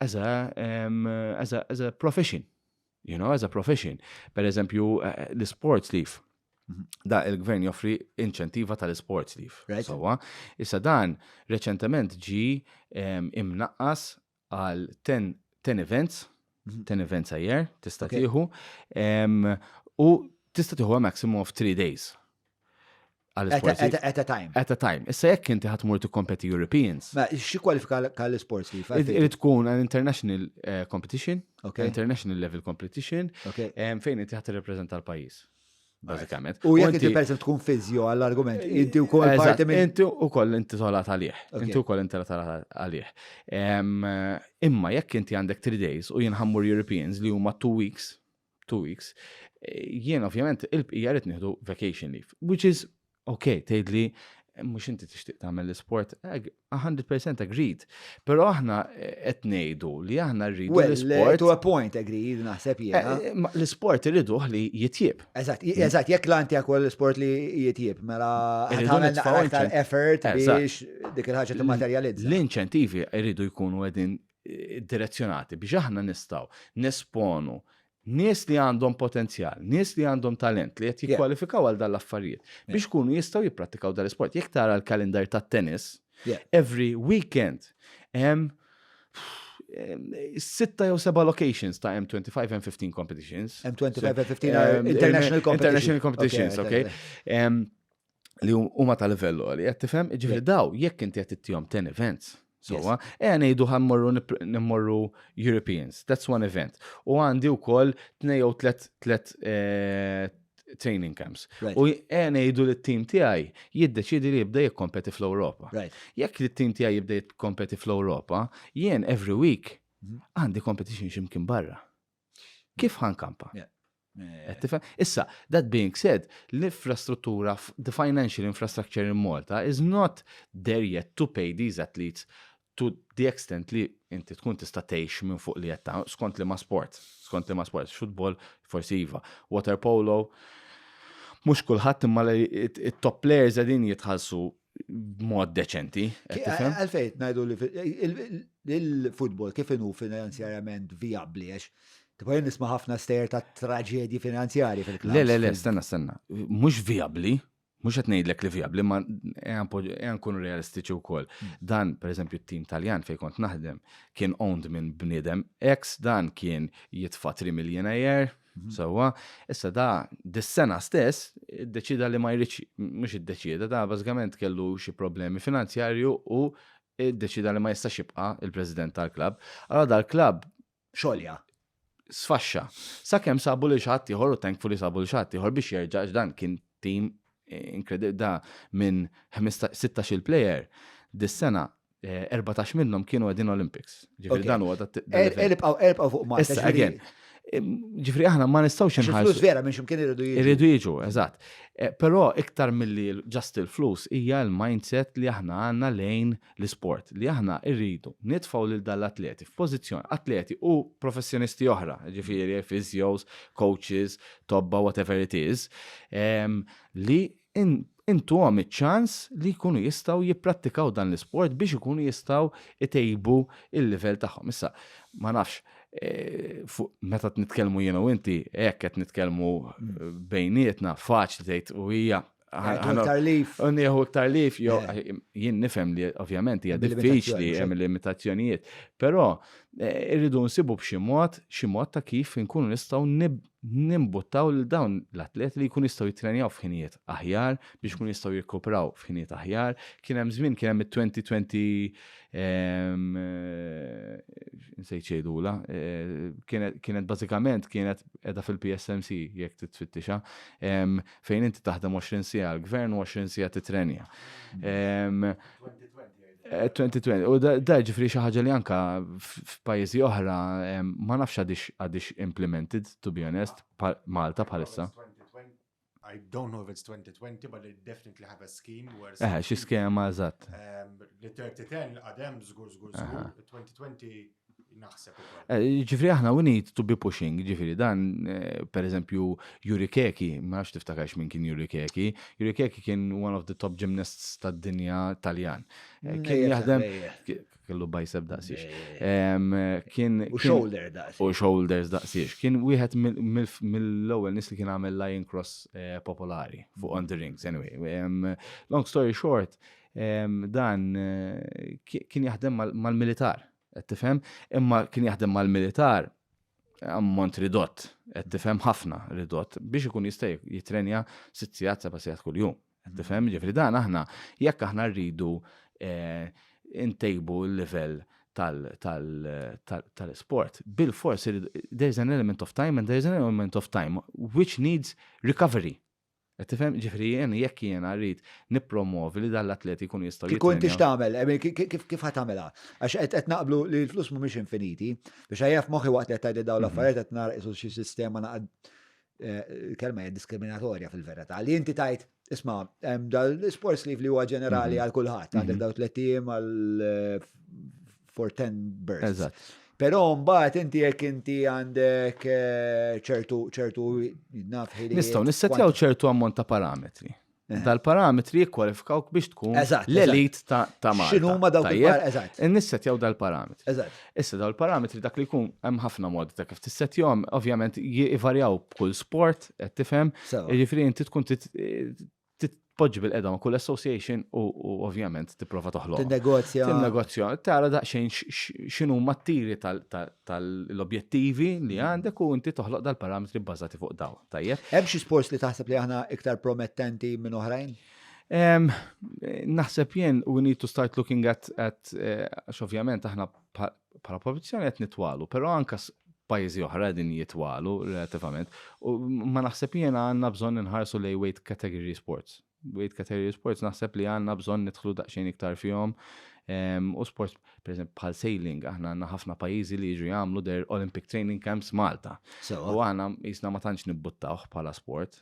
as a, um, as a, as a profession. You know, as a profession. Per eżempju, eh, l-sports leaf. Mhm. Da il-gvern joffri inċentiva tal-sports leaf. Right. Sowa, issa dan reċentement ġi um, imnaqqas għal 10, 10 events, 10 mhm. events a year, tista' okay. tieħu, um, u tista' tieħu maximum of 3 days. għal-sports. At, at, a time. At a time. Issa jekk inti ħatmur tikkompeti Europeans. Ma xi kwalifika għall-sports li Irid tkun an international eh, competition, okay. international level competition, okay. fejn inti ħat reprezenta l-pajjiż. Bażikament. U jekk inti perżent tkun fizjo għall-argument, eh, inti wkoll parti minn. Inti wkoll inti tolat għalih. Inti wkoll inti tolat għalih. Imma jekk inti għandek 3 days u jinħammur Europeans li huma 2 weeks, two weeks, jien ovvjament il-bqija rrit nieħdu vacation leave, which is ok, tgħidli mhux inti tixtieq tagħmel l-isport, 100% agreed. Però aħna eh, qed ngħidu li aħna rridu l-isport. To a point agreed naħseb eh, jiena. Eh, l-isport irridu li jitjib. Eżatt, hmm. eżatt, jekk l-anti għakol l-isport li jitjib, mela tagħmel aktar effort biex dik il-ħaġa timmaterjalizza. L-inċentivi irridu jkunu qegħdin direzzjonati biex aħna nistgħu nesponu nies li għandhom potenzjal, nies li għandhom talent li qed jikkwalifikaw għal dan l-affarijiet biex kunu jistgħu jipprattikaw dan l-isport. Jekk tara l-kalendar tat-tennis, every weekend hemm sitta jew seba locations ta' M25 and 15 competitions. M25 and 15 international competitions. International competitions, okay. li huma ta' livell li qed tifhem, ġifieri daw jekk inti qed ittihom ten events. Sowa, e ngħidu ħammorru nimmorru Europeans, that's one event. U għandi wkoll tnej jew tlet tlet eh, training camps. U e ngħidu li t-tim tiegħi jiddeċidi li jibda jikkompeti fl-Ewropa. Jekk li t-tim tiegħi jibda jikkompeti fl-Ewropa, jien every week mhm. għandi competition ximkien barra. Kif ħan kampa? Issa, that being said, l-infrastruttura, the financial infrastructure in Malta is not there yet to pay these athletes to the extent li inti tkun tista' tgħix minn fuq li qed ta' skont li ma' sport, skont li ma' sport, football forsi iva, water polo, mhux kulħadd imma it-top players qegħdin jitħallsu b'mod deċenti. Għalfejn ngħidu li l-futbol kif inhu finanzjarjament vijabbli għax Tipo jen nisma ħafna stejer ta' traġedji finanzjari fil-klass. Le, le, le, stenna, stenna. Mux viabli, mux għet nejdlek li viabli, ma għan kun realistiċi u koll. Hmm. Dan, per eżempju, t-tim taljan fej kont naħdem, kien owned minn bnidem, ex dan kien jitfa 3 miljon ajer, Mhm. Sewwa, issa da dis-sena stess iddeċida li ma jridx mhux iddeċida da bażikament kellu xi problemi finanzjarju u iddeċida li ma jistax jibqa' il-President tal-klabb. Allora dal-klabb xolja sfaxxa. Sakemm sabu li xatt ieħor u thankful li sabu li xatt ieħor biex jerġa' dan kien tim eh, inkredibbli da minn 16 player dis-sena 14 minnhom kienu għedin Olympics. Ġifri dan huwa dat. Elibqaw, elibqaw fuq ma. Issa, again. Ġifri aħna ma nistawx inħarsu. Flus vera minn ximkien irridu jiġu. Irridu jiġu, eżatt. Eh, però iktar milli ġast il-flus hija l-mindset li aħna għandna lejn l-sport li aħna rridu nitfaw lil dal-atleti f'pożizzjoni atleti u professjonisti oħra, ġifieri physios, coaches, tobba whatever it is, ehm, li intuhom iċ-ċans li jkunu jistgħu jipprattikaw dan l-isport biex ikunu jistgħu jtejbu l-livell tagħhom. Issa, ma nafx, meta nitkellmu jien u inti, hekk qed nitkellmu bejnietna, faċli tgħid u hija Iktar lif. Nieħu iktar lif, eh. jien nifhem li ovvjament hija diffiċli hemm limitazzjonijiet, però eh, irridu nsibu b'xi mod, xi mod ta' kif inkunu nistgħu nimbuttaw lil dawn l-atleti li jkunu jistgħu jittrenjaw f'ħinijiet aħjar biex ikunu jistgħu jirkupraw f'ħinijiet aħjar. Kien hemm żmien kien hemm it-2020 ehm, nsejt xejdula, eh, kienet bażikament kienet qiegħda fil-PSMC jekk titfittixha ehm, fejn inti taħdem 20 sija l-gvern u 20 sija titrenja. Ehm, 2020, eh, u da ġifri xi ħaġa li anka f'pajjiżi oħra ma nafx għadix implemented, to be honest, Malta bħalissa. I don't know if it's 2020, but they definitely have a scheme where... Eh, xi skema, eżatt. Li 3010 għadem zgur, zgur, zgur, 2020 Eh, ġifri aħna we need to be pushing, ġifri dan, eh, per eżempju, Yuri Keki, ma nafx tiftakarx minn kien Yuri Keki. Yuri Keki kien one of the top gymnasts tad dinja Taljan. Eh, kien jaħdem, kellu bajseb daqsiex. Kien. U shoulder daqsiex. U shoulders daqsiex. Kien wieħed mill-ewwel nis li kien għamel lion cross popolari fuq on the rings. Anyway, long story short, Dan kien jaħdem mal-militar, qed tifhem, imma kien jaħdem mal-militar ammont ridott, qed tifhem ħafna ridott biex ikun jista' jitrenja sitt sigħat seba' sigħat kuljum. Qed tifhem, ġifri dan aħna jekk aħna rridu eh, intejbu l-livell tal-sport. Bil-fors, there's an element of time and there's an element of time which needs recovery. Qed tifhem? Ġifieri jien jekk jiena rrid nippromwovi li dan l-atleti jkunu jistgħu Kieku inti jitrenjaw. x'tagħmel, I mean, ki- ki- kif kif ħatamela? Għax qed qed naqblu li l-flus mhumiex infiniti, biex għajja f'moħħi waqt li qed tgħidli dawn Mhm. l-affarijiet qed nara qisu xi sistema naqad eh, il-kelma hija diskriminatorja fil-verità. Li inti tajt, isma' hemm dal-sports leave li huwa ġenerali Mhm. għal kulħadd, għandek Mhm. daw tliet ijiem għal eh, for 10 birds. Eżatt. Però mbagħad inti jekk inti għandek eh, ċertu ċertu naf ħiliet. Nistgħu nissetjaw ċertu ammont ta' parametri. Eh. Dal-parametri jikkwalifikawk biex tkun Eżatt, l-elit ta' ta' Malta. X'inhu huma dawk Tajjeb? il-par- eżatt. Nissetjaw dal-parametri. Eżatt. Issa daw il-parametri dak li jkun hemm ħafna modi ta' kif tissetjahom, ovvjament jivarjaw b'kull sport, qed tifhem. Sewa. Jiġifieri inti tkun tit- titpoġġi bil-qeda ma' kull association u ovvjament tipprova toħloq. Tinnegozja. Tinnegozja. Tara daqsxejn x'inhu mat-tiri tal-objettivi li mm. għandek u inti toħloq dal-parametri bbażati fuq daw. Tajjeb. Hemm xi sports li taħseb li aħna iktar promettenti minn oħrajn? Naħseb jien we need to start looking at, at eh, ovvjament aħna Bħala produzzjoni qed nitwalu, però anke pajjiżi oħra qegħdin jitwalu relattivament. U ma naħseb jiena għandna bżonn inħarsu lej weight category sports. Weight category sports naħseb li għandna bżonn nidħlu daqsxejn iktar fihom. Ehm, u sports, per eżempju, bħal sailing, aħna għandna ħafna pajjiżi li jiġu jagħmlu der Olympic Training Camps Malta. U aħna jisna ma tantx nibbuttawh bħala sport,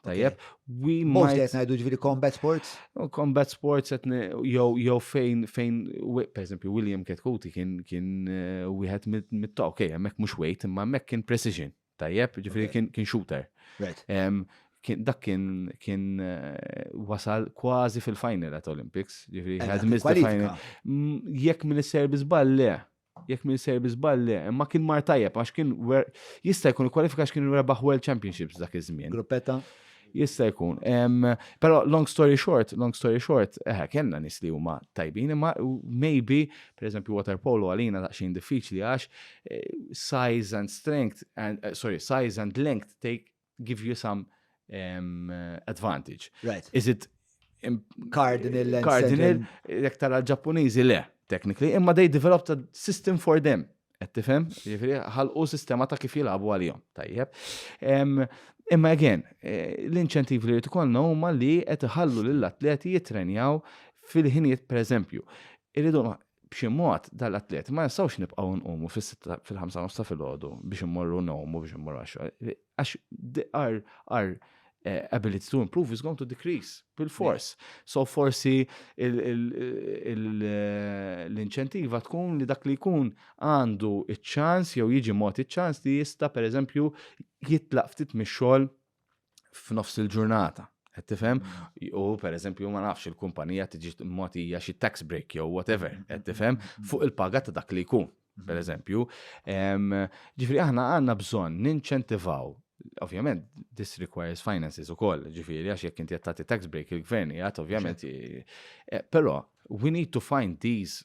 Tajjeb, we might. Mostly qed ngħidu ġifieri combat sports? Oh, combat sports qed jew jew fejn fejn pereżempju William Ketkuti kien kien eh, wieħed mit-ta' okej, hemmhekk mhux weight imma hemmhekk kien precision. Tajjeb, ġifieri kien kien shooter. Right. Dak kien kien eh, wasal kważi fil-final at Olympics, ġifieri had missed the final. Jekk minn is-serbi żball le, jekk minn sejr bi żball le, imma kien mar tajjeb għax kien jista' jkun kwalifika għax kien rebaħ World Championships dak iż-żmien. Gruppetta? Jista' jkun. Però long story short, long story short, eh, kellna nies li huma tajbin, imma maybe, pereżempju water polo għalina daqsxejn diffiċli għax eh, size and strength and eh, sorry, size and length take give you some um, advantage. Right. Is it um, cardinal and cardinal jekk tara l-Ġappuniżi le technically imma they developed a system for them. Qed tifhem? Jiġifieri ħalqu sistema ta' kif jilagħbu għalihom. Tajjeb. Um, Imma again, eh, l-inċentiv li jitkollna huma li qed iħallu lill-atleti jitrenjaw fil-ħinijiet pereżempju. Irridu b'xi mod dal-atleti ma nistgħux nibqgħu nqumu fis-sitta fil-ħamsa nofs ta' filgħodu biex immorru nowmu biex immorru għax għax our our eh, ability to improve is going to decrease bil-fors. So forsi il- il- il- eh, l-inċentiva tkun li dak li jkun għandu iċ-ċans jew jiġi mod iċ-ċans li jista' pereżempju jitlaq ftit mix-xogħol f'nofs il-ġurnata. Qed tifhem? Mm. U pereżempju ma nafx il-kumpanija tiġi mogħtija xi tax break jew whatever, mm. qed tifhem mm. fuq il-paga ta' dak li jkun, pereżempju. Ġifieri aħna għandna bżonn ninċentivaw Ovvjament, this requires finances u koll, ġifiri, għax jek inti jattati tax break il-gvern, jgħat ovvjament. Eh, Pero, we need to find these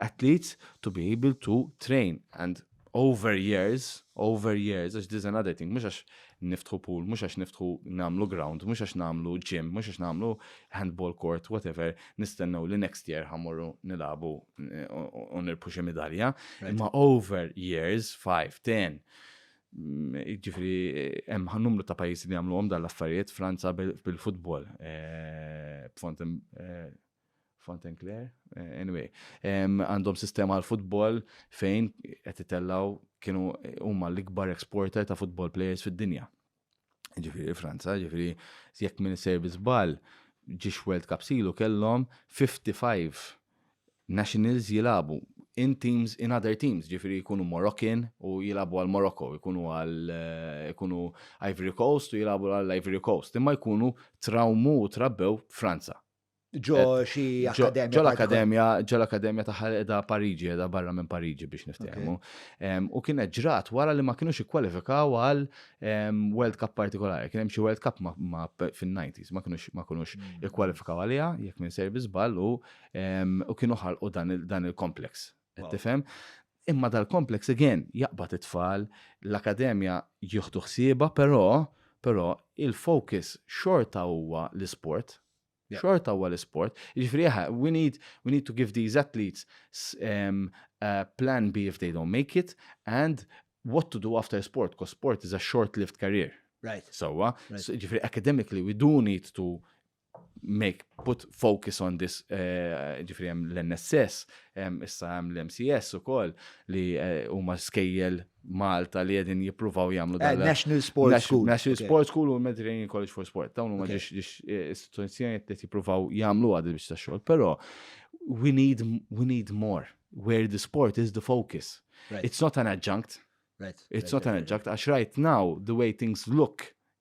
athletes to be able to train and over years, over years, għax this is another thing, mhux għax niftħu pool, mhux għax niftħu nagħmlu ground, mhux għax nagħmlu gym, mhux għax nagħmlu handball court, whatever, nistennew li next year ħamorru nilagħbu eh, u nirpu xi midalja, imma over years, 5, 10, mm, ġifri, eh, hemm numru ta' pajjiżi li għamluhom dal-affarijiet, Franza bil-futbol, eh, b'fond Fontenclair, anyway, għandhom sistema għal futbol fejn qed itellaw kienu huma l-ikbar exporter ta' futbol players fid-dinja. Ġifieri Franza, ġifieri jekk minn servi żball ġiex World Cup silu kellhom 55 nationals jilabu in teams in other teams, ġifieri jkunu Moroccan u jilabu għal Morocco, jkunu għal jkunu Ivory Coast u jilabu għal Ivory Coast, imma jkunu trawmu u trabbew Franza. ġo eh, xi akademja. Ġo l-akademja, ġo l-akademja ta' edha Pariġi, edha barra minn Pariġi biex niftehmu. U kienet ġrat wara li ma kienux ikkwalifikaw għal World Cup partikolari. Kien hemm xi World Cup ma fin-90s ma kienux ma kienux mm. ikkwalifikaw għaliha jekk minn servi żball u kienu ħalqu dan il-kompleks. Tifhem? Imma dal-kompleks again jaqbad it-tfal, l-akademja jieħdu ħsieba, però però il-focus xorta huwa l-isport Xorta huwa l-isport. Jiġifieri aha, we need, we need to give these athletes um, uh, plan B if they don't make it and what to do after sport, because sport is a short-lived career. Right. Sawa, right. so, ġifiri academically we do need to make put focus on this eh, ġifri hemm l-NSS, issa hemm l-MCS ukoll li eh, huma skejjel Malta li għedin jipruvaw jamlu dan. Eh, National Sports School. National Sports School u Mediterranean College for Sport. Dawn huma ġiex eh, istituzzjoni qed jippruvaw jagħmlu għad biex ta' xogħol, però we need we need more where the sport is the focus. Right. It's not an adjunct. Right. It's right, not right, an adjunct għax right now the way things look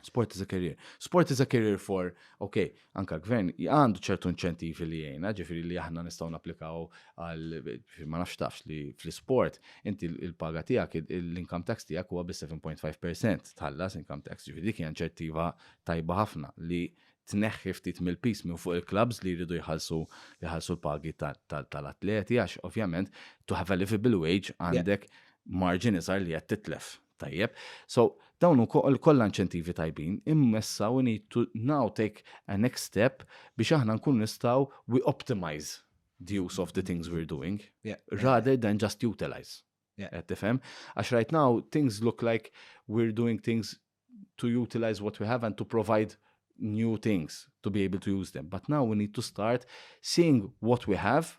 Sport is a career. Sport is a career for, ok, anka l-gvern għandu ċertu inċentivi li jgħina, ġifiri li aħna nistaw naplikaw għal, ma nafx tafx li fl-sport, inti il-paga tijak, l-income tax tijak huwa bi 7.5% tħallas income tax, ġifiri dik inċentiva tajba ħafna li tneħħi ftit mill-pis minn fuq il-klabs li jridu jħalsu jħalsu l-pagi tal-atleti, għax ovvjament, to have a livable wage għandek marġin iżgħar li qed titlef. Tajjeb, so dawn ukoll kollha inċentivi tajbin, imma issa we need to now take a next step biex aħna nkunu nistgħu we optimise the use of the things we're doing rather than just utilise. Qed tifhem? Għax right now things look like we're doing things to utilise what we have and to provide new things to be able to use them. But now we need to start seeing what we have